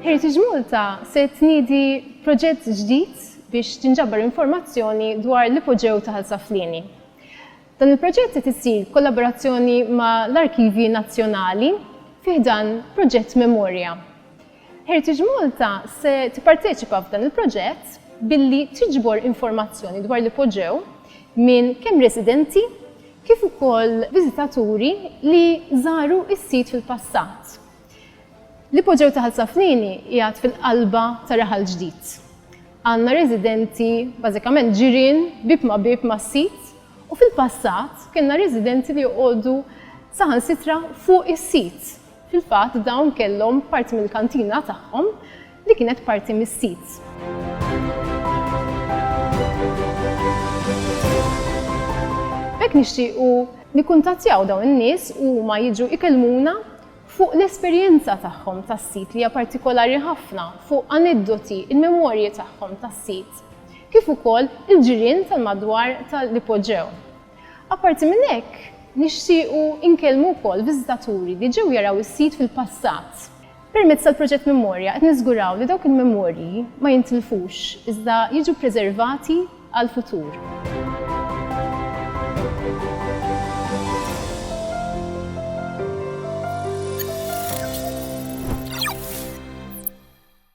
Heritage Malta se tniedi proġett ġdid biex tinġabar informazzjoni dwar l-ipoġew ta' Saflini. Dan il-proġett qed isir kollaborazzjoni ma' l-Arkivji Nazzjonali fiħdan proġett Memorja. Heritage Malta se tipparteċipa f'dan il-proġett billi tiġbor informazzjoni dwar l-ipoġew minn kemm residenti kif ukoll viżitaturi li żaru s-sit fil-passat. L-ipoġew ta' Ħal Saflieni qiegħed fil-qalba ta' Raħal Ġdid. Għandna residenti bażikament ġirien bieb ma' bieb mas-sit u fil-passat kellna residenti li joqogħdu saħansitra fuq is-sit. Fil-fatt dawn kellhom parti mill-kantina tagħhom li kienet parti mis-sit. B'hekk nixtiequ nikkuntattjaw dawn in-nies u huma jiġu ikellmuna fuq l-esperjenza tagħhom tas-sit li hija partikolari ħafna, fuq aneddoti, il-memorji tagħhom tas-sit, kif ukoll il-ġirien tal-madwar tal-ipoġew. Apparti minn hekk, nixtiequ nkellmu wkoll viżitaturi li ġew jaraw is-sit fil-passat. Permezz tal-proġett Memorja qed niżguraw li dawk il-memorji ma jintilfux iżda jiġu ppreservati għall-futur.